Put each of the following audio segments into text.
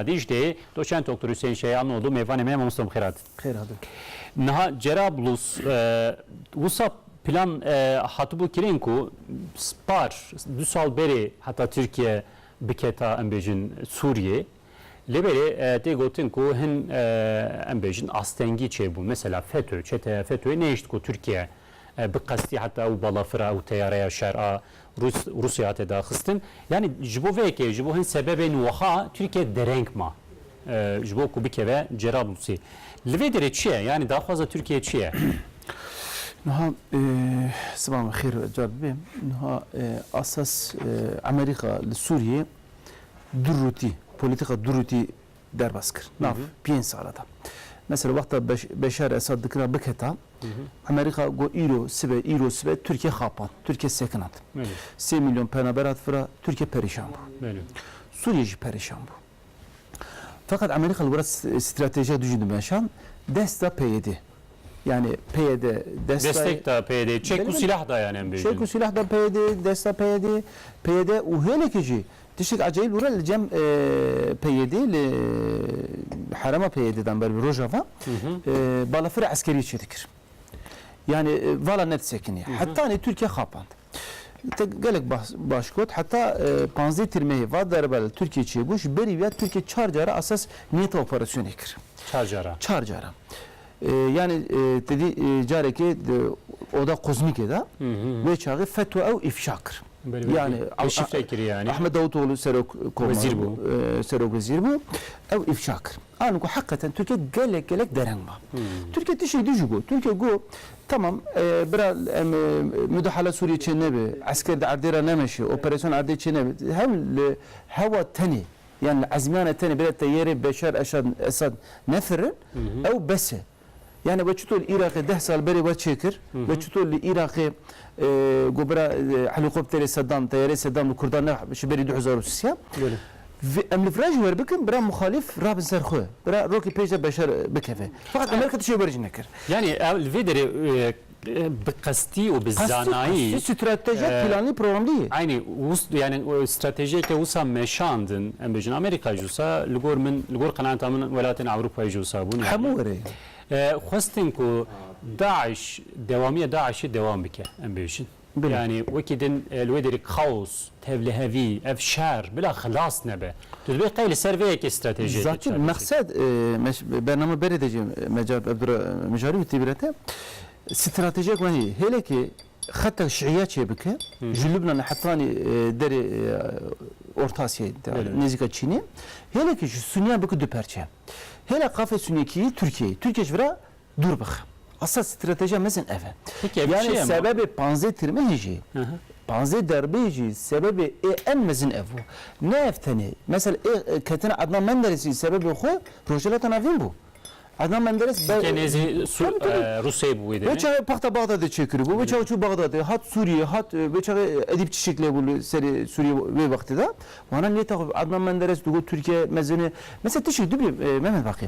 Dicle, doçent Doktor Hüseyin Şeyan oldu mêvanê me mamoste bi xêr hatin. Xêr hatin. Niha Cerablus wisa plan hatibû kirin ku par du sal berê heta Tirkiye biketa em bêjin Sûriyê lê berê tê gotin ku hin em bêjin astengî çêbûn. Mesela FETÖ, çeteya FETÖ'yê nehişt ku Tirkiye bi qestî heta ew balafira ew teyareya şer a Rûs Rûsyayê hate daxistin. Yanî ji bo vê yekê, ji bo hin sebebên wiha Tirkiye dereng ma ji bo ku bikeve Cerablûsê. Li vê derê çi ye? Yanî daxwaza Tirkiye çi ye? Niha siba me xêr car bibe. Niha asas Emerîka li Sûriyê du rûtî, polîtîka du rûtî derbas kir nav pênc sala de. Mesela wexta Beşar Esad dikira biketa, Emerîka got îro sibe, îro sibe Tirkiye xapand, Tirkiye sekinand. Sê mîlyon penaber hat vira, Tirkiye perêşan bû. Sûriye jî perêşan bû. Feqet Emerîka li wir stratejiya dijî dimeşand, dest da PYD'ê. Yanî PYD Destek da PYD'ê, çek û sîlah da yan em bêjin. Çek û sîlah da PYD'ê, desta PYD'ê, PYD û hêlekê jî tiştek ecayîb li were li cem PYD'ê li herema PYD dan ber bi Rojava balafira eskeriyê çêdikir. Yanî vala ne disekinî. Hetanî Tirkiye xapand. Te gelek baş got, heta panzdeh tîrmeyê va derba li Tirkiyê çêbû, ji berî ya Tirkiye çar caran esas niyeta operasyonê kir. Çar caran? Çar caran. Yanî te dî carekê di oda kozmîkê de wê çaxê FETÖ ew îfşa kir. Yanî Ahmet Davutoglu serok komar bû, serok wezîr bû, ew îfşa kir. An ku heqeten Tirkiye gelek gelek dereng ba. Tirkiye tiştek din jî got. Tirkiye got, Tamam bira em mudahala Sûriyê çê nebe, esker di erdê re nemeşe, operasyon erdê çê nebe. Hev li hewa tenê yan li ezmîyana tenê bira Teyerê, Beşar Eşad, Esad nefirin ew bes e. Yanî we çito li Îraqê deh sal berê we çêkir? We çito li Îraqê got bira helîkopterê Sedam, teyareyê Sedam li Kurdan ne ji berî du hezar û sî? Vê em li vira jî werbikin bira muxalîf rabin ser xwe. Bira rokê pêş de beşer bikeve. Feqet Amerîka tiştê wer jî nekir. Yanî li vê derê Bi qestî û bi zanayî. Qestî stratejî pîlanî programlî ye. Eynî yanî stratejîyeke wisa meşandin em bêjin Amerîka jî wisa li gor min li gor qenaata min welatên Ewropayê jî wisa bûn. Hemû were ye. Xwestin ku DAIŞ dewamîya DAIŞ'ê dewam bike em bêjin. Yanî wekî din li wê derê kaos, tevlihevî, ev şer bila xilas nebe. Tu dibê qey li ser vê yekê stratejiyekê çareser bikî. Zatî mexsed bername berê de jî me carek ev dura mijarî witî bi re te. Stratejiyek wenî hêlekê xeta şiiya çêbike ji Lubnanê hetanî derê Orta Asyayê tevlihevî nêzîka Çînê. Hêlekê ji Suniyan bike du perçe. Hêla qafê Sunîyekî yî Tirkiyeyê. Tirkiye ji vira Dûr bixe. Esas stratejiya mezin ev e. Peki ev çi Yanî ye ma? sebebê panzdeh tirmehê jî, Aha. panzdeh derbeyê jî sebebê ê en mezin ev bû. Ne ev tenê. Mesela ê ketina Adnan Menderesî sebebê xwe Rojhilata Navîn bû. Adnan Menderes be Sûrîyeyê nêzî Sû Tabii, tabii. e, Rûsyayê bû wê Wê demê. çaxê paxta Baxdadê çêkiribû, wê çaxê çû Baxdadê, hat Sûrîyeyê, hat wê çaxê Edîp Çişik lê bû li serê Sûrîyeyê wê wextê de. Wana nê taxû Adnan Menderes digot Tirkiye mezin e. Mesela tişik dibî Mehmet Baqî.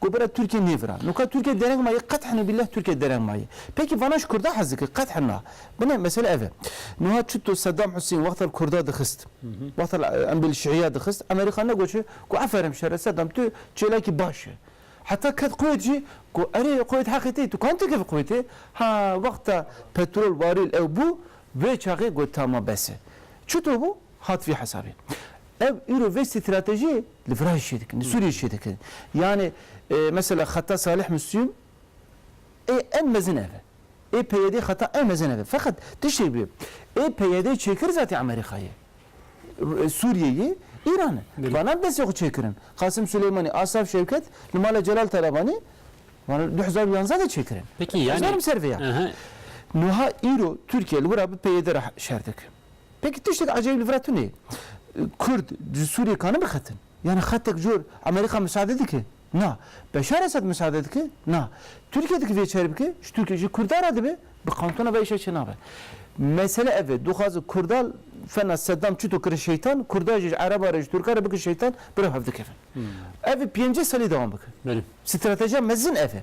Ku bira Tirkiye nêvira. No ka Tirkiye dereng ma ye qet hene bîllah Tirkiye dereng ma ye. Peki vana ji Kurda hez dikir qet hena. Bine mesele ev e. Nuha çito Sedam Husên wexta li Kurda dixist. Wexta li em bê li Şiiya dixist Amerîka negoçe ku eferem şere Sedam tu çêlekî baş e. Heta ket Kuwêt jî ku erê Kuwêt heqê te ye tu kan tikevî Kuwêtê. Ha wexta petrol warîl ew bû vê çaxê got tama bes e. Çito bû hat vî hesabê. Ev îro vê stratejiyê Li Firayê çê dikin, li Sûriyê çê dikin. Yanê mesela xeta Salih Muslûm ê en mezin ev e. Ê PYD xeta en mezin ev e. Feqet tiştê bûye. Ê PYD çêkir zatî Amerîkayê. Sûriyeyê Îran e. Banan destê xwe çêkirin. Qasim Silêmanî, Asaf Şewket li mala Celal Talabanî banan du hezar û yanzdeh de çêkirin. Ez narim ser vê ya. Nuha îro Tirkiye li wira bi PYD re şer dikin. Peki tiştek ecayîb li vir e tune. Kurd ji Sûriyê karin bixetin? Yanî xetek cor Amerîka misade dike? Na. Beşar Esed misade dike? Na. Tirkiye dike vê çare bike? Ji Tirkiye ji Kurdan re dibe? Bi kantona ve îşe çênabe. Mesele ev e, dixwazin Kurdan fena Seddam çito kirin şeytan, Kurdan jî ji Ereban re ji Tirkan re bikin şeytan, bi rew hev dikevin. Ev pêncî salî dewam bike. Stratejiya mezin ev e.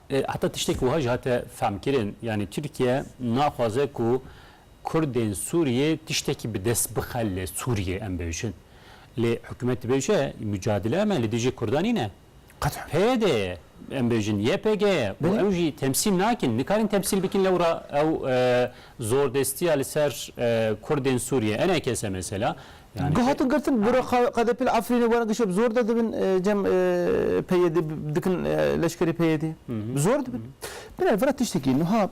Heta tiştek wiha jî hate femkirin, yanî Tirkiye naxwaze ku Kurdên Sûriyê tiştekî bi dest bixe li Sûriyê em bêjin. Lê hikûmet dibêje micadele me li dijî Kurdan nîn e. Qet PYD ye em bêjin, YPG ye û ew jî temsîl nakin, nikarin temsîl bikin lewra ew zordestiya li ser Kurdên Sûriyê. Enekese mesela. Yanî Ku hatin girtin bi re qedepî li Efrînê werin gişê bi zor de dibin cem PYD dikin leşkerê PYD. Bi zor dibin. Bine vera tiştekî nuha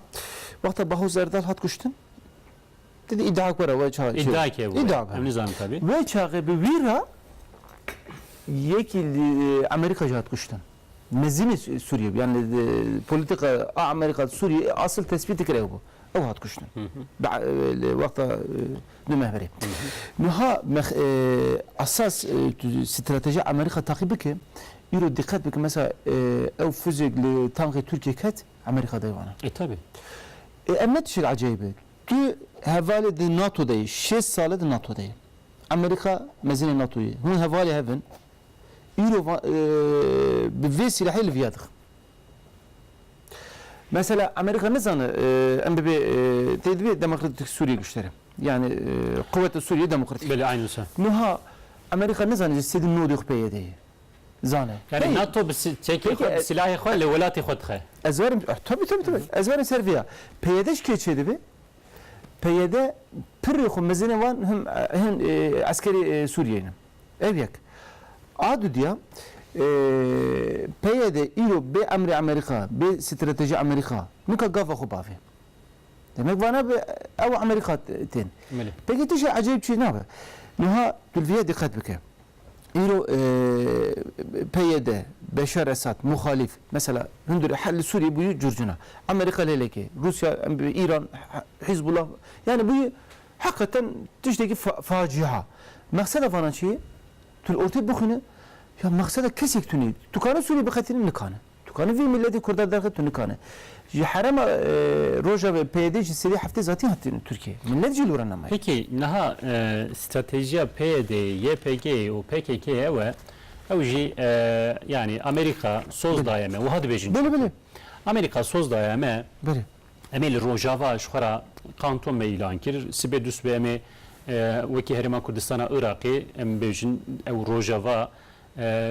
wexta Baho Zerdal hat kuştin di di îdiak were we çaxê çê. Îdiak e bu. Îdiak. Em nizanim tevî. Wê çaxê bi wî re yekî li Amerîka jî hat kuştin. Mezînê Sûriyê bû. Yan li polîtîka a Amerîka Sûriyê asil tesbît dikir ew bû. Ew hat kuştin. Li wexta Bi me berê. Niha esas stratejiya Amerîka taqîb bike, îro diqet bike mesela ew fuzek li tanxê Tirkiyê ket, Amerîka dayê wan e. E tebî. E em ne tişek ecayîb e. Tu hevalê di NATO de yê, şêst sal e di NATO de yê. Amerîka mezîna NATO yê. Hûn hevalê hev in. Îro bi vê sîlehê li viya dixin. Mesela Amerîka nizane em bibê tê dibê demokratik Sûriyê giştire. Yanî quweta Sûriyê demokratik. Belê eynû wisa. Nuha Amerîka nizane ji sê di nodê xwe peyedê ye. Zane. Yanî nato bi çekê xwe bi silahê xwe li welatê xwe dixe. Ez werim tabi tabi tabi ez werim ser vêya. Peyede ji kê çêdibê? Peyede pirê xwe mezinê wan hin eskerê Sûriyeyê ne. Ev yek. A dudiya, PYD îro bê emrê Amerîka, bê stratejî Amerîka nika gava xwe bavê. Demek vana bi ew û Amerîka tên. Pkk tişê ecêb çi nabe. Niha tu li vî yê diqet bike. Îro PYD, Beşar Esad, muxalîf, mesela hundirê hel li Sûriyê bûyî curcuna. Amerîka lê lêkê. Rûsya, Îran, Hîzbullah, yanî bûyî Heqeten tiştekî facia. Mexseda vanan çi ye? Tu li ortê bixwîne ya mexseda kesek tune. Tu kane Sûriyê biqetîne? Nikane. Tu kane vê mîletê kurda derxe? Tu nikane. Ji herema rojavê PYD ji sedî heftê zatî hatine Tirkiyeyê. Mîlet jî li were nemaye. Peki niha stratejiya PYD'ê, YPG'ê û PKK'ê ew e, ew jî yanî Amerîka soz daye me. Wiha dibêjin çi? Belê belê. Amerîka soz daye me. Belê. Em ê li Rojava ji xwe re Kanton me îlan kir. Sibê du sibê em ê wekî Herêma Kurdistana Iraqê em bêjin ew Rojava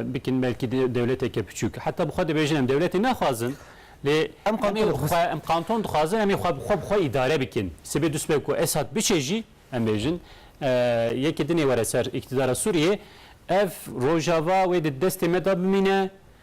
bikin belkî dewleteke piçûk. Heta bi xwe dibêjin em dewletê naxwazin lê em xwe em kanton dixwazin em ê xwe bi xwe bi xwe îdare bikin. Sibê du sibê ku Esad biçe jî em bêjin yekê din ê were ser îktidara Sûriyê ev Rojava wê di destê me de bimîne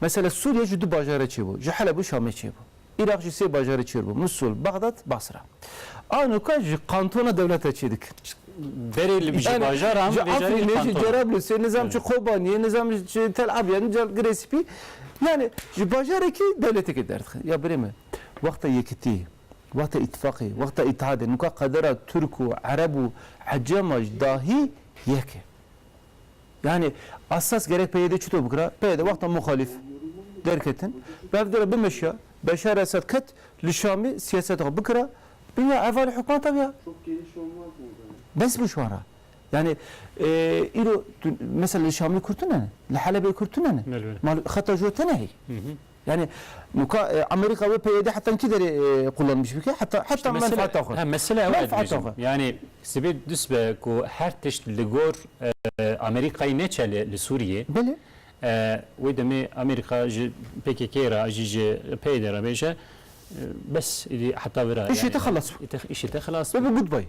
Mesele Sûriyê ji du bajarê çêbû, ji Heleb û Şamê çêbû. Îraq jî sê bajarê çêrbû, Musûl, Bexdad, Basra. Anoka ji kantona dewlete çêdikin. Berê li ji bajaran ji Efrînê, ji Cerablusê, nizam ji Kobaniyê, nizam ji Tel Abyad, nizam Girê Spî. Yanî ji bajarekî dewleteke derdixin. Ya birê min, wexta yekitî, wexta îtîfaqê, wexta îtihadê, nika qedera Tirk û Ereb û Ecema ji dahî yek e. Yanî esas gerek PYD çito bikira? PYD wexta muxalîf derketin, revdira bimeşiya, Beşar Esad ket li Şamê siyaseta xwe bikira, bîne heval û hikûmeta wî ya. Bes bû ji wan re. Yanî îro tu mesela li Şamê Kurd tune ne, li Helebê Kurd tune ne. Mal xeta ji we tune heye. Yanî nuka Amerîka wê PYD heta hin kî derê qulanbîş bike heta heta menfaata xwe. He mesele ew e dibêjim. Yanî sibê dus be ku her tişt li gor Amerîkayê neçe li Sûriyê. Belê. Wê demê Amerîka ji PKK'ê re jî ji PYD'ê re bêje bes êdî heta vira. Îşê te xelas bû. Îşê te xelas bû. Goodbye.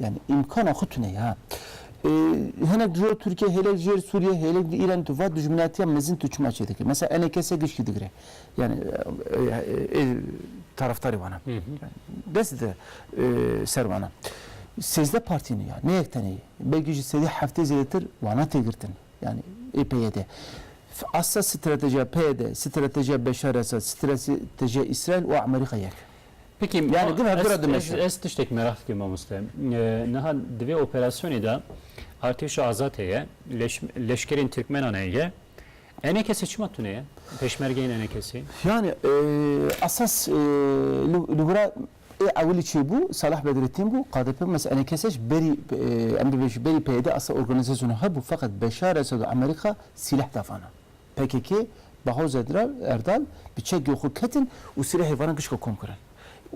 Yani îmkana xwe tune ya. Hinek ji bo Tirkiye, hêlek ji êr Sûriye, hêlek di Îranê tu va dijminatiya mezin tu çima çê dikir? Mesela enê kesê giştî digire. Yani ê taraftarê wan e. Dest dide ser wan e. Sêzdeh partî ne ya, ne yek tenê ye. Belkî ji sedî heftê zêdetir wana tê girtin. Yani ê PYD. Asa stratejiya PYD, stratejiya Beşar Esad, stratejiya Îsraîl û Amerîka yek e. Peki yani gura gura dimeşin. Ez, ez tiştek merak dikim mamoste. Niha divê operasyonê de artêşa azad heye, leş, leşkerên Türkmenan heye. Ene kesê çima tune ye? Peşmergeyên ene kesê? Yani e, esas e, li gura ê ewilî çê bû, Salah Bedrettin bû, KDP mes ene keseş berî e, em dibêjî berî PYD asa organizasyonu hebû feqet Beşar Esed û Amerîka sîleh davana. pkk, Bahoz Erdal bi çekgê xwe ketin û sirê heyvanan pişka kom kirin.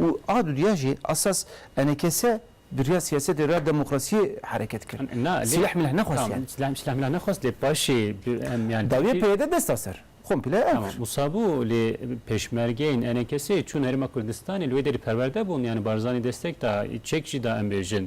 Û a du diya jî esas NKS bi riya siyasetê riya demokrasiyê hereket kir. Silah milah nexwest yani. Tamam silah milah nexwest lê paşê em yani. Dawiyê PYD desta ser. Komple ew kir. Tamam wisa bû lê pêşmergeyên NKS'ê çûn Herêma Kurdistanê li wê derî perwerde bûn yani Barzanî destek da çek jî da em bêjin.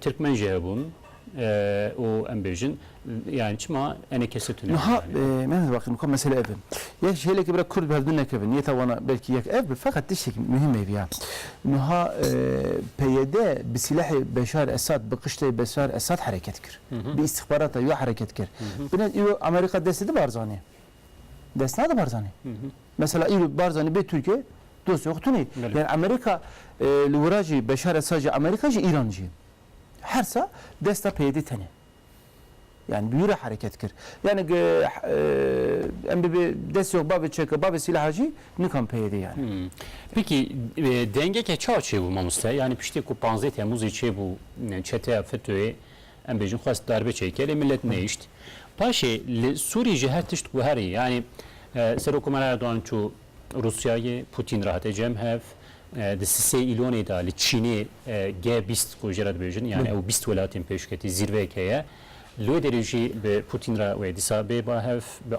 Tirkmen jî hebûn û em bêjin yani çima enê kesê tune. Niha me ne baqî nûka mesele ev e. Yek ji hêlekê bira kurd bi hev din nekevin yê tawana belkî yek ev bi feqet tiştekî muhîm hêvî ya. Niha PYD bi sîlehê Beşar Esad bi qiştê Beşar Esad hereket kir. Bi îstixbarata wî hereket kir. Binê îro Amerîka destê di Barzanî. Dest nade Barzanî. Mesela îro Barzanî bê Tirkiye dosya xwe tune. Yani Amerîka li wira jî Beşar Esad jî Amerîka jî Îran jî her sa desta PYDê tene. Yani bi wî re hereket kir. Yani em bibê destê xwe bavê çeka, bavê sîlaha jî nikan PYDê yani. Pêkî dengeke çawa çêbû mamoste? Yani piştî ku panzdeh Temmûzê çêbû çeteya FETÖ'yê Em bêjin xwest darbe çêke lê milet nehişt. Paşê li Sûrî jî her tişt guherî. Yanî Serokkomar Erdogan çû Rûsyayê, Pûtîn re hate cem hev. Di sisê Îlonê de li Çînê G bîst ku jê re dibêjin yanî ew bîst welatên pêşketî zîrveyek heye. Li wê derê jî bi Pûtîn re wê dîsa bê ba hev, bi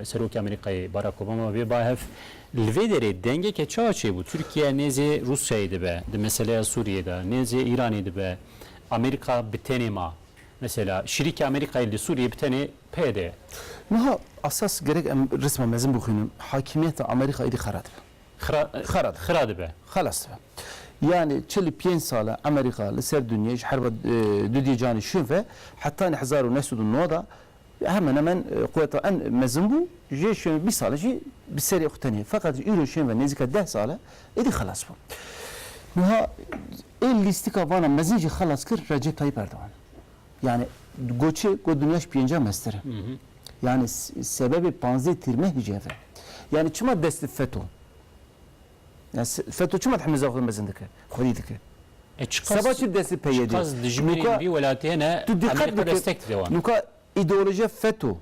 Serokê Amerîkayê Barak Obama ve bê ba hev. Li vê derê dengeke çawa çêbû? Tirkiye nêzê Rûsyayê dibe di meseleya Sûriyê de, nêzê Îranê dibe, Amerîka bi tenê ma. Mesela, şirîkê Amerîkayê li Sûriyê bi tenê PYD ye. Niha esas gerek em resma mezin bixwînin, hakîmiyeta Amerîka êdî xera dibe. Xera, Xera dibe. xera dibe. Xelas dibe. Yanî çil û pênc sal e Amerîka li ser dinyayê ji herba dudiyê canê şûn ve, hetanî hezar û neh sed û nod a Hemen hemen quweta en mezin bû, jê şên ve bîst sal e jî bi serê xwe tenê. Feqet ji îro şên ve nêzîka deh sal e, êdî xelas bû. Wiha ê lîstika vana mezin jî xelas kir Recep Tayyîp Erdogan. Yanî got çi? Got dinya ji pêncî ya meztir e. Yanî sebebê panzdeh tîr me hije ev e. Yanî çima dest bi feto? Feto çima hemîza xwe mezin dike, xwedî dike? Seba çi destê PYD'ê? Tu diqet bike, nuka îdeolojiya Feto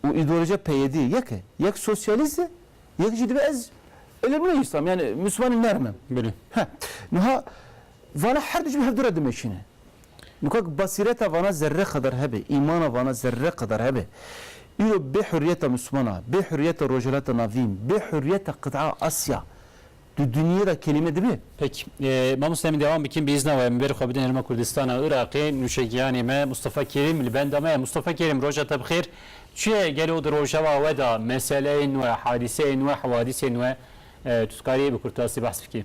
û îdeolojiya PYD'ê yek e. Yek sosyalîst e, yek jî dibe ez ilim nî Îslam yanî Mislimanî nerm im. Niha vala her du jî bi hev du re dimeşîne. Li ku basîreta vana zerre qadar hebe, îmana vana zerre qadar hebe, îro bê hurriyeta Mismana, bê hurriyeta Rojhilata Navîn, bê hurriyeta qit'a Asya di dinyê de kelîme dibe? Peki. Mamoste min dewam bikin bi îzna we. Min berî xwe bidin Herêma Kurdistana Iraqê. Nûçegiyanê me Mustafa Kerîm li benda me ye. Mustafa Kerîm roja te bi xêr. Çi ye gelo di rojeva we de meseleyên nwe, hadîseyên nwe, hewadîsên nwe tu dikarî bi kurtasî behs bikî?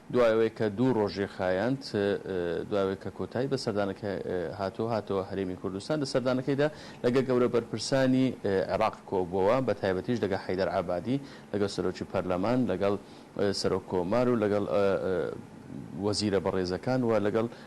Duayê wê ke du roj jê xayand, duayê wê ke kotayî bi serdaneke hato hato Herêmê Kurdistan, di serdanekê de legel gewreberpirsanî Iraq kobûwa, bi taybetî ji legel Heyder Ebadî, legel Serokê Perleman, legel Serokkomar û legel wezîre berêzekan we legel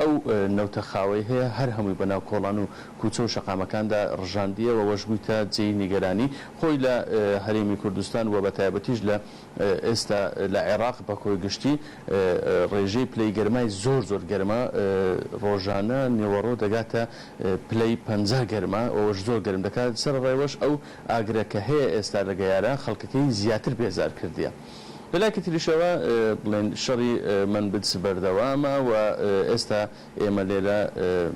Ew newta xaweyê heye her hemûyê bi nav kolan û kûçe û şeqamekan de rijandiye we weş bûyte cêyî nîgeranî xwe yî li Herêmî Kurdistan we bi taybetî jî li êsta li Iraq Bakoyê giştî rêjeyê pileyê germayê zor zor germ e rojane nêwero degate pileyê penca germ e we weş zor germ dike li ser rê weş ew agireke heye êsta li geyare xelkekeyî ziyatir bêzar kirdiye. Bila ki tirîşewa blên şerî min bidsi berdewam e û êsta ême lêde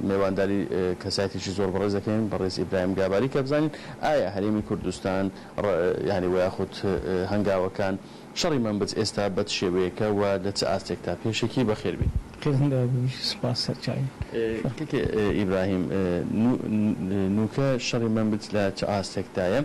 mêwandarî kesayetîşî zor berêz dikên berêz Îbrahîm Gabarî ke bizanîn aye herêmî Kurdistan re yanî we yaxut hengawekan şerî min bids êsta be ti şêweyeke û li ti astêk ta. Pêşekî bi xêr bî. Qedinga bû ji spas ser çayê. Keke Îbrahîm, nûke şerî min bids li ti astek ta ye.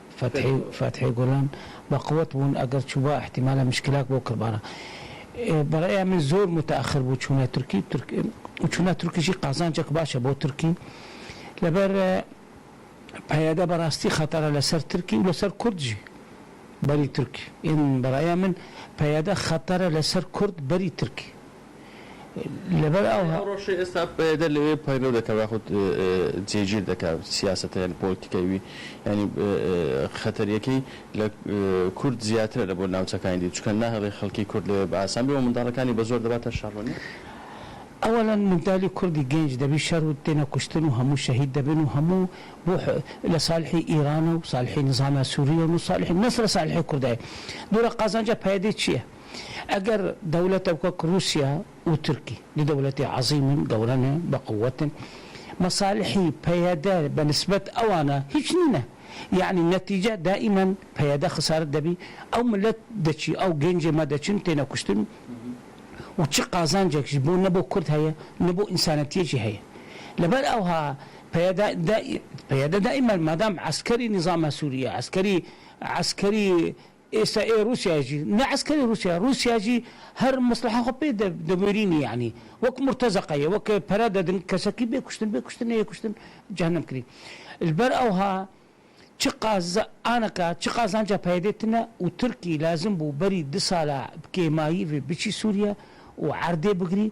Fethî Fethî Gulan, Ba qwet bûn eger çûba îhtîmale muşkîlek bo kirbana. Bi rêya min zor mutexir bû çûna Tirkî Tirk û çûna Tirkî jî qazancek baş e bo Tirkî. Li ber PYD bi rastî xetara li ser Tirkî û li ser Kurd jî berî Tirkî yên bi rêya min PYD xetara li ser Kurd berî Tirkî Li ber ew her rojê êsta PYD li wê peyro dike ve xwe cêgîr dike siyaseta yanî polîtîkayê wî. Yanî xeter yekî li Kurd ziyatire li bo navçekanî dî çunke nahêlî xelkî Kurd li wê bi asan bê û mindalikanî bi zor dibate şaronî. Ewelan mindalî Kurdî genc debî şer û têne kuştin û hemû şehîd dibin û hemû bo li salîhî Îran e û salîhî nizama Sûrî ye û salîhî ne sere salîhî Kurda ye. Dora qazanca PYDê çi ye? Eger dewletek wek Rûsya û Tirkî du dewletê ezîm in, gewre ne, biquwet in, mesalihî PYD be nisbet ewan e hîç nîn e. Yanî netîce daîmen PYD xisaret debî, ew milet diçî, ew gencê me diçin têne kuştin û çi qazancek ji bo ne bo kurd heye ne bo însanetiyê jî heye. Li ber ewha PYD PYD daîmen madam eskerî nîzama Sûrî ye, eskerî eskerî Êsa ê Rûsyayê jî ne eskerê Rûsyayê, Rûsya jî her mesleha xwe pê de dewêrînî yanî wek murtezeqa ye, wek pere dedin kesekî bê kuştin, bê kuştin neyê kuştin cehennem kirî. Li ber ewha çi qaz aneka çi qazanca PYDê tune û Tirkî lazim bû berî du sala bi kêmayî vê biçî Sûriye û erdê bigirî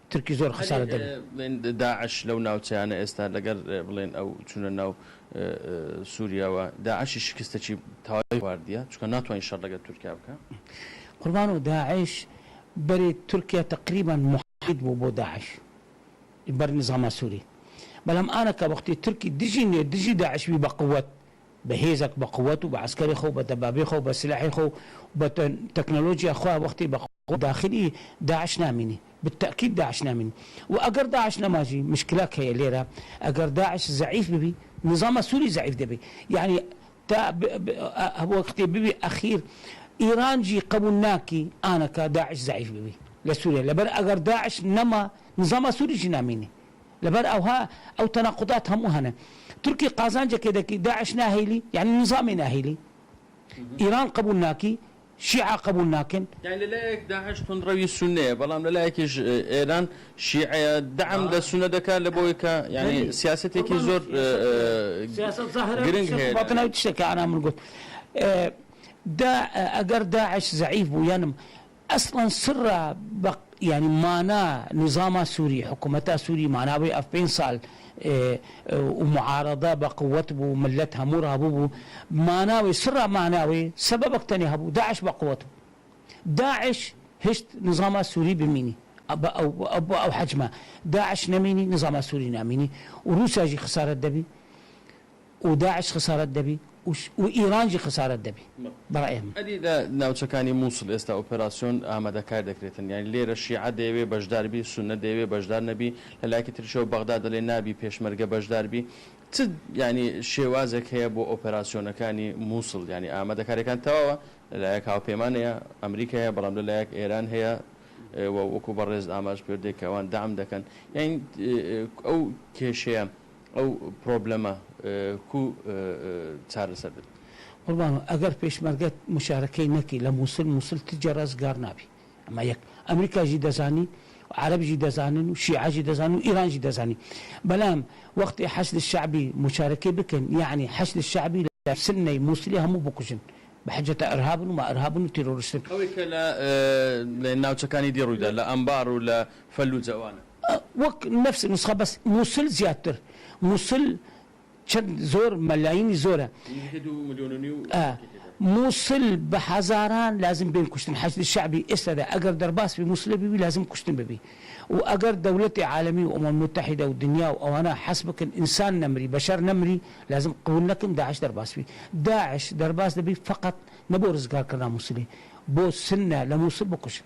Tirkî zor xesare dibin. Lê DAIŞ lew navçeyane êsta leger bilên ew çûne nav Sûriye we. DAIŞ'î şikiste çî tayî xwardiye çunka natwanî şer leger Tirkiye bike. Qurbano DAIŞ berê Tirkiye teqrîban muhît bû bo DAIŞ li ber nizama Sûrî. Belam aneke wextê Tirkî dijî nê dijî DAIŞ bî be quwet, be hêzek be quwet û be eskerê xwe û be debabê xwe û be silahê xwe û be teknolojiya xwe wextê be quwet. Ku daxilî DAIŞ namînî. Bi tekîd DAIŞ namînî. Û eger DAIŞ nema jî muşkilek heye lê re. Eger DAIŞ zeîf bibî, nizama Sûrî zeîf dibî. Yanî ta wextê bibî exîr Îran jî qebûl nakî aneke DAIŞ zeîf bibî li Sûriyê. Li ber eger DAIŞ nema, nizama Sûrî jî namînî. Li ber ewha ew tenaqudat hemû hene. Tirkî qazancekê dikî, DAIŞ nahêlî, yanî nizamê nahêlî. Îran qebûl nakî. Şîa qebûl nakin. Yani li layek DAIŞ tunrewî Sunne ye belam li layekî ji êran Şîe ye. De'em de Sunne dike li bo ke yani siyasetekî zor giring heye. Batin ew tişteke ana min got. Da eger DAIŞ zeîf bû yanim eslan sirra yani mana nizama Sûrî, hikûmeta Sûrî mana wê ev pênc sal û muarada bi quwet bû, milet hemû rabû bû. Mana wê, sirra mana wê, sebebek tenê hebû, DAIŞ bi quwet bû. DAIŞ hişt nizama Sûrî bimînî, bi ew bi ew hecma. DAIŞ nemînî, nizama Sûrî namînî û Rûsya jî xisaret debî. û DAIŞ xesaret debî û Îran jî xesaret debî bi raya min. Erî li navçekanî Mûsil êsta operasyon amadekar dekiritin. Yanî lê re şîe dêyewê beşdar bî, sune dêyewê beşdar nebî. Li layekî tir jî Bexdad dilê nabî pêşmerge beşdar bî. Çi yanî şêwazek heye bo operasyonekanî Mûsil? Yanî amadekarêkan tewawe. Li layek hawpêman heye, Amerîka heye belam li layek Êran heye we wekû berêz amaje pêwir dê ke wan deam deken. Yanî ew kêşeya Ew problema ku çareser bidin. Qurbano, eger pêşmerge muşarekey nekî li Mûsil, Mûsil ti cara zigar nabî. Ema yek. Amerîka jî dezanî, Ereb jî dezanin û Şîa jî dezanin û Îran jî dezanin. Belam wextê Heşdê Şe'bî muşarekê bikin, yanî Heşdê Şe'bî li Sinneyê Mûsilê hemû bikujin. Bi hiceta Irhab in û ma Irhab in û terorist in. Ew ê ke li navçekanî dî rû da, li Enbar û li Fellûce wan e. A wek nefsê nusxa bes Mûsil ziyadtir. Mûsil çend zor melayînî zor e. Nîvê du milyon û nîw xelkê tê de. Mûsil bi hezaran lazim bên kuştin. Heşdî şe'bî êsta de eger derbas bî Mûsilê bîbî lazim kuştin bibî. Û eger dewletê alemî û Umam Mutehîde û dinya û ewana hes bikin însan nemirî, beşer nemirî lazim qebûl nekin Da'iş derbas bî. Da'iş derbas dibî feqet ne bo rizgarkirina Mûsilê. Bo sinne li Mûsil bikuşin.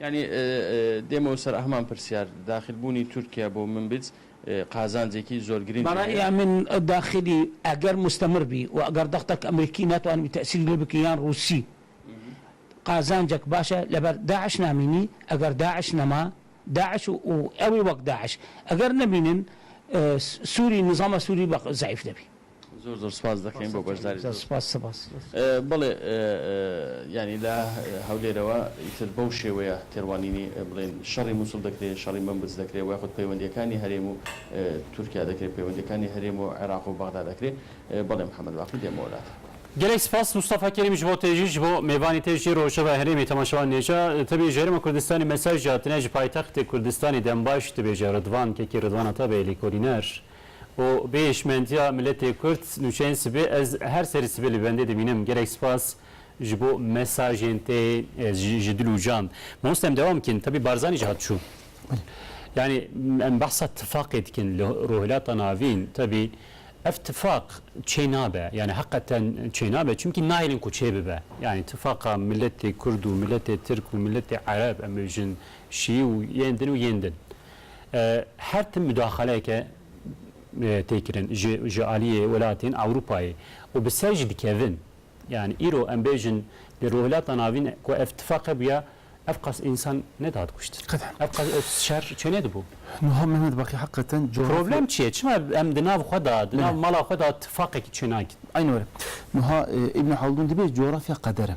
Yanî dêmo ser heman pirsyar, daxilbûnî Tirkiye bo Minbîts qazancekî zor girîng heye. Bi raya min daxilî eger mustemir bî û eger dextek Amerîkî netwanibî tesîr lê bikî yan Rûsî qazancek baş e. Li ber DAIŞ namînî, eger DAIŞ nema, DAIŞ û ew ê wek DAIŞ eger nebînin Sûrî, nizama Sûrî zayîf dibî. Zor zor spas dikim bo beşdarî. Zor spas spas. Belê yanî li Hewlêrê we îtir bew şêweye têrwanînî bilên şerî Mûsil dekirê, şerî Minbits dekirê û xwed peywendîyekanî herêm û Tirkîya dekirê, peywendîyekanî herêm û Iraq û Bexda dekirê. Belê Mihemed Baqî dê me welat. Gelek spas Mustafa Kerîm ji bo te jî ji bo mêvanî te jî rojeva herêmê temaşevan nêca tibê ji herêma Kurdistanê mesaj hatine ji paytextê Kurdistanê dembaş dibêje Ridvan kekê Ridvan Atabey lêkolîner. û bi hişmendiya miletê Kurd nûçeyên sibê ez her serî sibê li bendê dimînim. Gelek spas ji bo mesajên te ji dil û can. Mamoste em dewam bikin tevî Barzanî jî hat çû. Yanî em behsa tifaqê dikin li Rûhilata Navîn tevî ev tifaq çê nabe yanî heqeten çê nabe çimkî nahêlin ku çê bibe. Yanî tifaqa miletê Kurd û miletê Tirk û miletê Ereb em bibêjin şî û yên din û yên din. Her tim mudaxaleyeke tê kirin ji ji aliyê welatên Ewropayê û bi ser jî dikevin. Yanî îro em bêjin li Rojhilata Navîn ku ev tifaqe bûye ev qas însan nedihat kuştin. Qet. Ev qas ev şer çêne dibû. Nuha Mehmet Baqî heqeten cografya. Problem çi ye? Çima em di nav xwe de, di nav mala xwe de tifaqekî çênakîn? Aynû were. Nuha Îbnû Haldûn dibê cografya qeder e.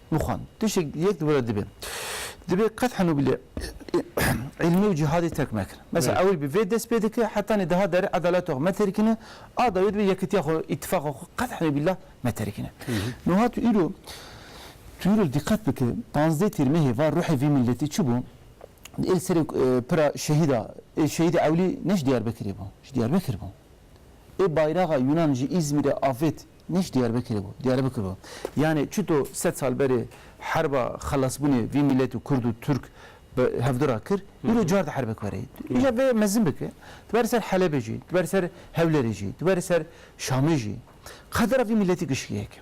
Mixwan, tiştek yek di were dibe. Dibe qet heno bile îlmê û cîhadê terk nekin. Mesela ewil bi vê dest pê dike, heta nê diha derê edalet xwe me terkine, a dawî dibe yekitiya xwe, îtîfaqa xwe qet heno bîla me terkine. Nuha tu îro, tu îro diqet bike panzdeh tîr mehê va ruhê vî miletî çi bû? Ê li serê pira şehîda, ê şehîdê ewlî ne ji Diyarbekirê bû, ji Diyarbekir bû. Ê bayraxa Yunan ji Îzmîrê avêt Nîş Diyarbekirê bû, Diyarbekir bû. Yanê çito sed sal berê herba xelasbûnê vî mîletû kurd û turk bi hevdû ra kir, îro car di herbek verê. Îja vê mezin bike, tu berê ser Helebê jî, tu berê ser Hewlêrê jî, tu berê ser Şamê jî, qedera vî mîletî gişkî heke.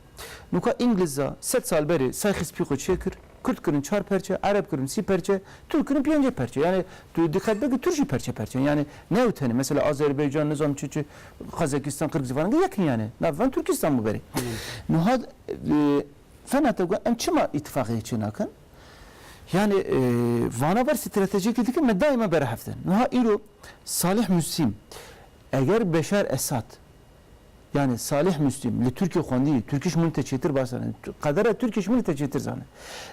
Nûka Îngilza sed sal berê say xîspî xwe çêkir, kurd kirin çar perçe, ereb kirin sî perçe, turk kirin pêncê perçe. Yanê tu diqet bike turk jî perçe perçe in. Yanê ne ew tenê. Mesela Azerbaycan, nizam çi çi. Qazakistan, Qirgizistan gi yekniya ne. Navê van Turkistan bû berê. Nuha fena te got em çima îtîfaqiyê çê nakin? Yanê vana ber stratejiyekê dikin me daîma berhev din. Nuha îro Salih Mustîm eger Beşar Esad yanê Salih Mustîm li Tirkiyê xwendiyê, Tirkiş min te çêtir baş zanê, qedera Tirkiş min te çêtir zane.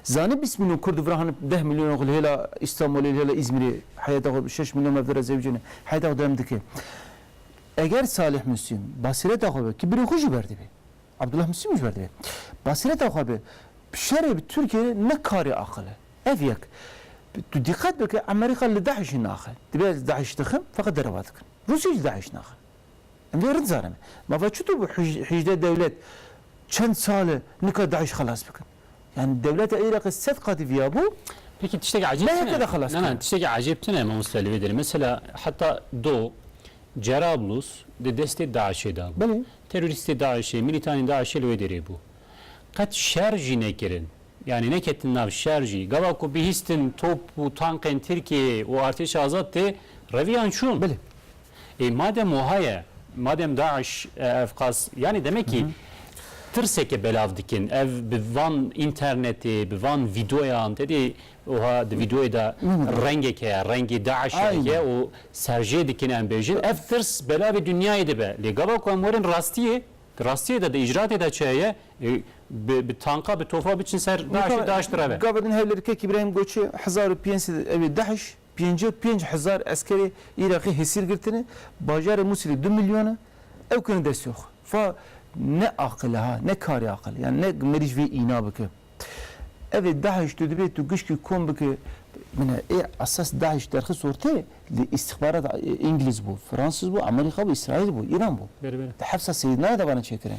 Zanê bîst mîlyon kurd vira hene deh mîlyon xwe li hêla Îstanbulê li hêla Îzmîrê heyeta xwe şeş mîlyon mevdera zewicê ne heyeta xwe devam dike. Eger Salih Muslim basîreta xwe be ki birê xwe jî berdibê, Abdullah Muslim jî berdibê, basîreta xwe be bi şerê bi Tirkiyê re ne karê aqil e. Ev yek. Tu dîqet bike Emerîka li DAIŞ'î naxe. Dibe ez DAIŞ dixim feqet derevat dikim. Rûsya jî DAIŞ naxe. Em vê rind zanime. Mava çitu bû hîjdeh dewlet çend sal e nika DAIŞ xelas bikin. Yani dewleta Îraqê sed qatî viyabû. Peki tiştekî ecêb tune? Neheke xelas kiriye. Na na tiştekî ecêb tune mamoste li vê derê. Mesela heta do Cerablus di destê DAIŞ'ê de bû. Belê. Terorîstê DAIŞ'ê, milîtanên DAIŞ'ê li wê derê bû. Qet şer jî nekirin. Yani neketin nav şer jî. Gava ku bihîstin top û tankên Tirkiyeyê û artêşa azad tê reviyan çûn. Belê. Ê madem wiha ye, madem DAIŞ ev qas yanî demekî tirseke belav dikin. Ev bi van înternetê, bi van vîdeoyan tedê wiha di vîdeoyê de rengek heye, rengê DAIŞ e heye û serjê dikin em bêjin. Ev tirs belavê dinyayê de be. Lê gava ku em werin rastiyê, di rastiyê de, di îcraatê de çi heye? Ê bi tanka, bi tofa biçin ser DAIŞ û DAIŞ bireve. Gava din hevlêrikek Îbrahîm Goçê hezar û pênc sed ew ê DAIŞ. Pêncî û pênc hezar eskerê Îraqî hesîr girtine, bajarê Mûsîlê du milyon e, ew kene destê xwe. Fa ne aqil e ha, ne karê aqil e. Yan ne merîj vê îna bike. Ev ê DAIŞ tu dibê tu gişkî kom bike, mine ê esas DAIŞ derxist orteyê li îstîxbarat Îngiliz bû, Fransîz bû, Amerîka bû, Îsraîl bû, Îran bû. Di hepsa Seyîdnayê de vane çêkirin.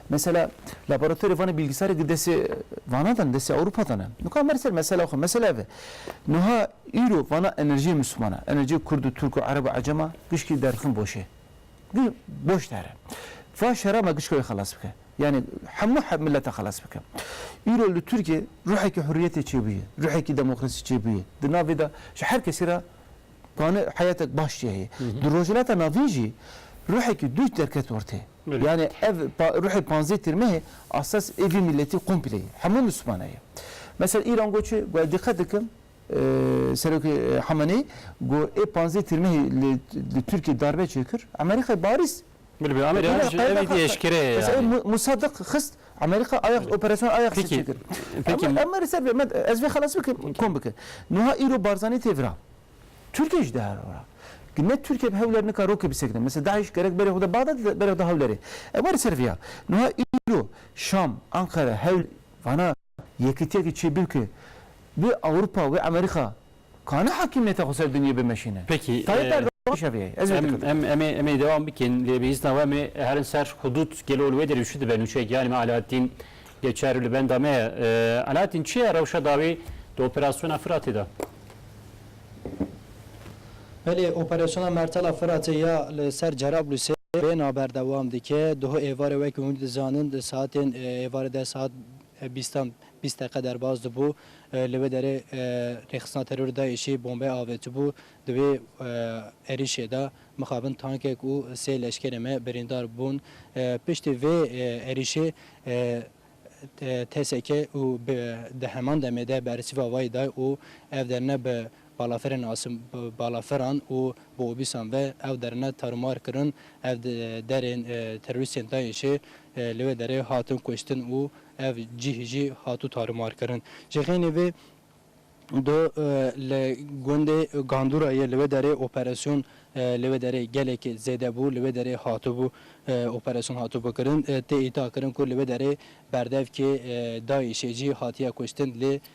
Mesela laboratorê vane bîlgisarê di destê vanan de ne, destê Ewropa de ne. Nika mer ser mesela xwe, mesela ev e. Niha Îro vala enerjiyê mismana, enerjiyê kurd û turk û ereb û ecem a gişkî derxin boş ê. Boş der e. Va şera me gişka wê xelas bike. Yanî hemû milete xelas bike. Îro li Tirkiyê ruhekî hurriyetê çêbûye. Ruhekî demokrasî çêbûye. Di navê de ji her kesî re dane heyetek baş jî heye. Di Rojhilata Navîn jî ruhekî dûç derket ortê. Yanî ev ruhê panzdeh Têrmehê a ses ê vî miletî komplê ye. Hemû mismana ye. Mesel Îran got çi? Got ez dîqet dikim Serokê Hamenei got ê panzdeh têrmehê li Tirkiyê darbe çêkir, Amerîkayê barîst. Bilbî Amerîka ji ev dî eşkere ye yanî. Musadik xist Amerîka Ajax operasyona Ajax çêkir. Em li ser vê me ez vê xelas bikim kom bikim. Nuha îro Barzanî tê vira. Tirkiyê jî dê vira. Ne Tirkiye bi hewler nika rokê bisekine. Mesela DAIŞ gerek berê xwe da Bexda dide berê xwe da Hewlerê. Em were li ser vê ya. Nuha îro Şam, Enqere, Hewler vana. Yekîtiyekî çi bû ki wê Ewropa, wê Amerîka kane hakîmiyeta xwe ser dinyê bimeşîne. Peki. Tayyîp Erdogan jî şevê ye. Ez wê dikim. Em em em ê dewam bikin lê bi îzna we em ê herin ser hudûd gelo li wê derê çi dibe nûçeyekî yanî me Alaaddîn yê çar li benda me ye. Alaaddîn çi ye rewşa dawî di operasyona Firatê de? Belê operasyona Mertela Firatê ya li ser Cerablusê bêhna berdewam dike. Duh êvarê wekî hûn dizanin di saetên êvarê deh saet, Bîstan bîst deqe derbas dibû, li wê derê rêxistina terorê DAIŞ'ê bombe avêtibû, di wê êrişê de mixabin tankek û sê leşkerê me birîndar bûn. Piştî vê êrişê TSK û bp di heman demê de bersîva wayî da û ev derine bi balafirên nasîn balafiran û bi obîsan ve ew derine tarûmar kirin. Ev derên terorîstên DAIŞ'ê Li wê derê hatin kuştin û ev cîh jî hatû tarimarkirin. Ji xênî vê do li gundê Gandûra yê li wê derê operasyon li wê derê gelekî zêde bû. Li wê derê hatibû operasyon hatibû kirin. Tê îdiakirin ku li wê derê berdevkê DAIŞ'ê jî hatiye kuştin lê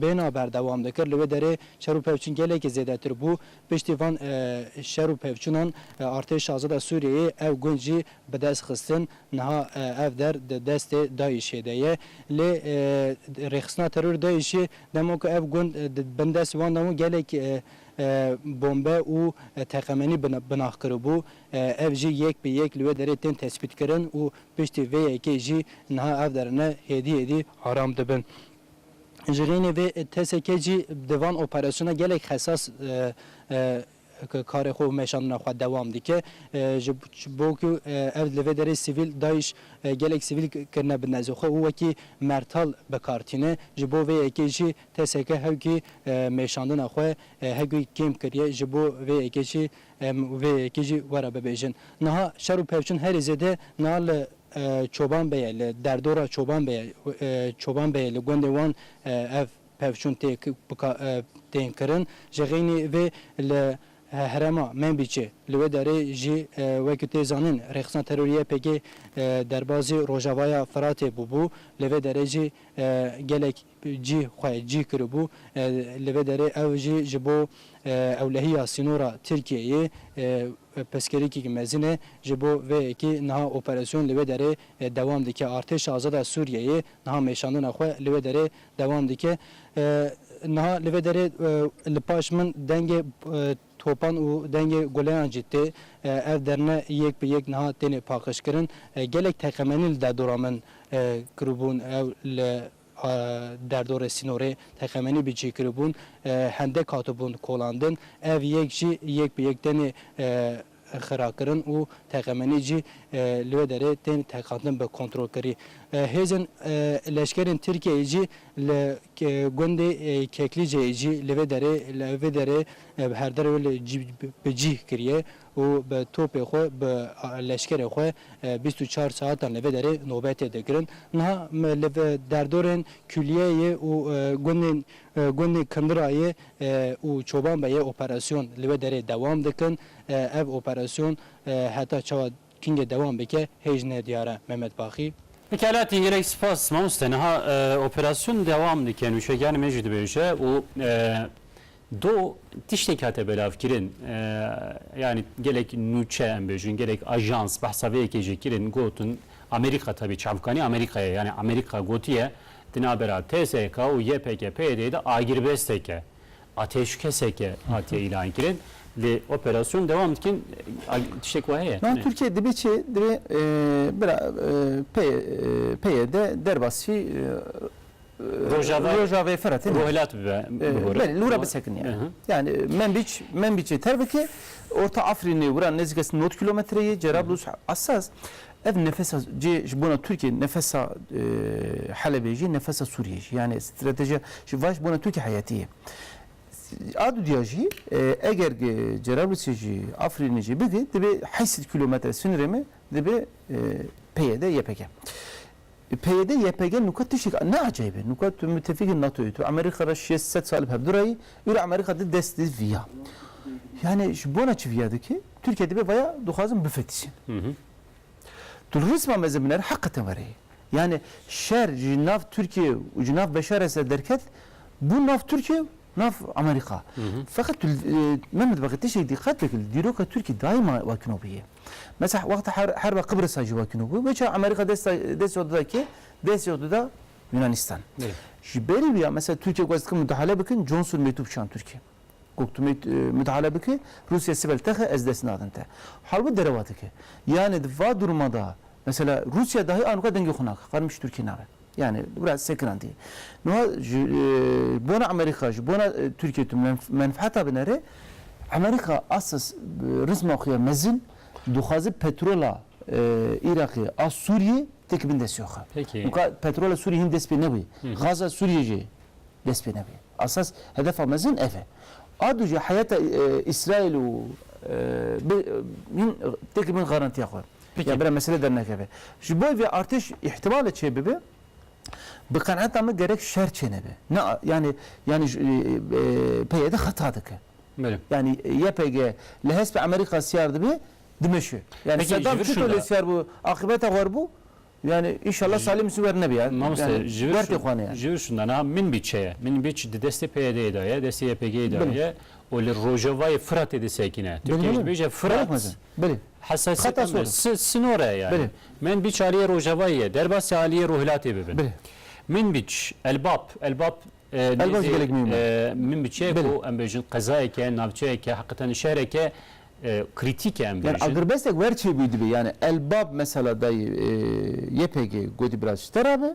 Bêhna berdewam dikir. Li wê derê şer û pevçûn gelekî zêdetir bû. Piştî van şer û pevçûnan artêş şahzada Sûriyeyê ew gund jî bi dest xistin. Niha ev der di destê DAIŞ'ê de ye. Lê rêxistina terorê DAIŞ'ê dema ku ev gund di bin destê wan de bû gelek bombe û teqemenî binax kiribû. Ev jî yek bi yek li wê derê tên tespîtkirin û piştî vê yekê jî niha ev derine hêdî hêdî aram dibin. Ji rênê vê TSK jî di van operasyona gelek xesas karê xwe û meşandina xwe dewam dike. Ji bo ku ev li vê derê sivîl DAIŞ gelek sivîl kirine bi nezê xwe û wekî mertal bi kar tîne. Ji bo vê yekê jî TSK hewkî meşandina xwe hewkî kêm kiriye. Ji bo vê yekê jî Em vê yekê jî were bibêjin. Niha şer û pevçûn herî zêde niha li Çoban Beyê, li derdora Çoban Beyê, Çoban Beyê li gundê wan ev pevçûn tê tên kirin. Ji xeynî vê li herêma Menbîçê li wê derê jî wek ku tê zanîn rêxistina terorî YPG'ê derbazî Rojavaya Firatê bûbû. Li vê derê jî gelek cî xwe cî kiribû. Li vê derê ew jî ji bo ewlehiya sînora Tirkiyeyê pirsgirêkek mezin e. Ji bo vê yekê niha operasyon li wê derê dewam dike. Artêşa Azada Sûriyeyê niha mêşandina xwe li wê derê dewam dike. Niha li vê derê li paş min dengê topan û dengê guleyan jî tê. Ev derine yek bi yek niha têne paqijkirin. Gelek teqemenî li derdora min kiribûn. Ew li Derdorê sînorê teqemenî bi cîkiribûn hendek hatibûn kolandin, ev yek jî yek bi yek tenê xirakirin û teqemenî jî li wê derê tên teqandin bi kontrolkirî. Hêzên leşkerên Tirkiyeyê jî li gundê Keklîceyê jî li vê derê vê derê bi herderê wê li cî bi cîh kirîye û bi topê xwe bi leşkerê xwe bîst û çar saetan li vê derê nobetê dikirin. Niha me li derdorên Kuliyeyê û gundên gundên Kindirayê û Çoban be yê operasyon li wê derê dewam dikin. Ev operasyon heta çawa tîngê dewam bike hêj ne diyar e. Mehmet Baxî. Pekala tî gelek spas mamoste. Niha operasyon dewam dike nûçegiyanê me jî dibêje û Do tiştek hate belavkirin, yanî gelek nûçe em bêjin, gelek ajans behsa vê yekê jî kirin, gotin Amerîka tevî çavkanî Amerîka ye, yanî Amerîka gotiye di navbera TSK û YPKP'yê de agirbestek e, atêşkesek e hatiye îlankirin, lê operasyon dewam dikin, tiştek wa heye? Niha Tirkiye dibê çi? Dibê bira PYD derbasî Rojava Rojavê fira tê Rohilat bibe bigore. Belê lura bisekiniye. Yani Menbiç Menbiçê terbikê Orta Afrînê wira nêzîka sî nod kîlometre yê Cerablus esas ev nefesa cê ji bona Tirkiyê nefesa Helebê jî nefesa Sûriyê jî yani stratejiya ji va ji bona Tirkiyê heyetî ye. A dûdiya jî eger gi Cerablusê jî Afrînê jî bigê dibê heşt sed kîlometre sinirê me dibê PYD YPG. PYD, YPG nuka tiştîk ne ecayb e. Nuka tu mutefîkê NATOyê, tu Amerîka re şêst sed sal bi hev dû re yî, îro Amerîka di dest di vî ya. Yanî ji bona çi vîya dike? Tirkîye dibe vaya dixwazin bifetişin. Tu li rîsma mezin binêre heqeten were yê. Yanî şer ji nav Tirkîye û ji nav Beşar Esed derket, bûn nav Tirkîye û nav Amerîka. Feqet tu li me mitbeqê tiştêk dîqet bike li dîroka Tirkîye daîma wekno bûye. Mesela wexta herba Qibris'a jî wekî nû bû. Weça Amerîka desta dest yox dida kê? Dest yox dida Yûnanîstan. Ji berî wî ya mesela Tirkîye got ez dikim mudahale bikin, Johnson mêtû bişand Tirkîye. Got tu mudahale bikî, Rûsîye sibel texe ez dest nadin te. Harbi derewa dike. Yanî di va durma da mesela Rûsîye dahî anûka dengê xwe nake. Xwarin bişî Tirkîye nabe. Yanî bira sekiran dî. Niha ji bona Amerîka, ji bona Tirkiyê tu menfeeta binêrê, Amerîka asas rizma xwe ya mezin dixwaze petrola Îraqê a Sûriyê têk bin destê xwe. Weka petrola Sûriyê hîn dest pê nebûye. Gaza Sûriyê jî dest pê nebûye. Asas hedefa mezin ev e. A du jî heyeta Îsraîl û bi hîn têk bin garantiya xwe. Ya bira mesele dernekeve. Ji bo vê artêş îhtîmale çêbibe, bi qenaeta min gerek şer çênebe. Ne yanî yanî PYD xeta dike. Yanî YPG li hespê Amerîka siyar dibe, dimeşe. Yanî Sedam çito lê siyar bû, aqîbeta xwe bû. Yanî înşallah Salî Misî wer nebe ya. Mamoste ji vir ji vir şûnde niha Minbîçe ye. Minbîç di destê PYD'ê de ye, destê YPG'ê de ye û li rojavayê Firatê disekîne. Tu pêşbêje Firat. Bilê. Hesasiyeta Xeta me sor e. si- sinor e yani. Bilê. Min bîç aliyê Rojavayî ye, derbasî aliyê Ruhilatê bibin. Bilê. Min bîç Elbap, Elbap e, Elbap nêzê, gelek mîm e. e, min biçeyek Bilê. ku em bêjin qezayek e, navçeyek e, heqîqeten di şehrek e, e, krîtîk e em Yani bêjin. agirmesteke wer çêbûyî divê. Yani Elbap mesela dayê e, YPG gotî birasî te ra be,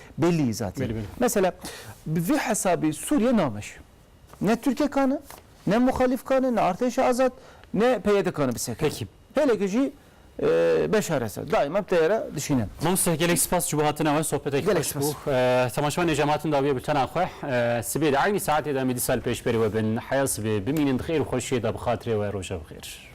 Belî zatî. Mesela bi vî hesabî Sûriye nameş. Ne Tirkek a ne, ne muxalîfk a ne, ne Artêşa Azad, ne PYD ka ne bi seke. Pekî. Hêleke jî Beşar Esed daîma bi teyare dişîne. Mamoste gelek spas ji bo hatina we. Sohbetekî xweş bû. Temaşevanê ji hematin dawiye bi tena xwe. Sibê di eynî saetê de em ê dî sal pêş berî we bin. Heya sibê. Bimînin bi xêr û xweşiyê de bi xatirê we. Roja bi xêr.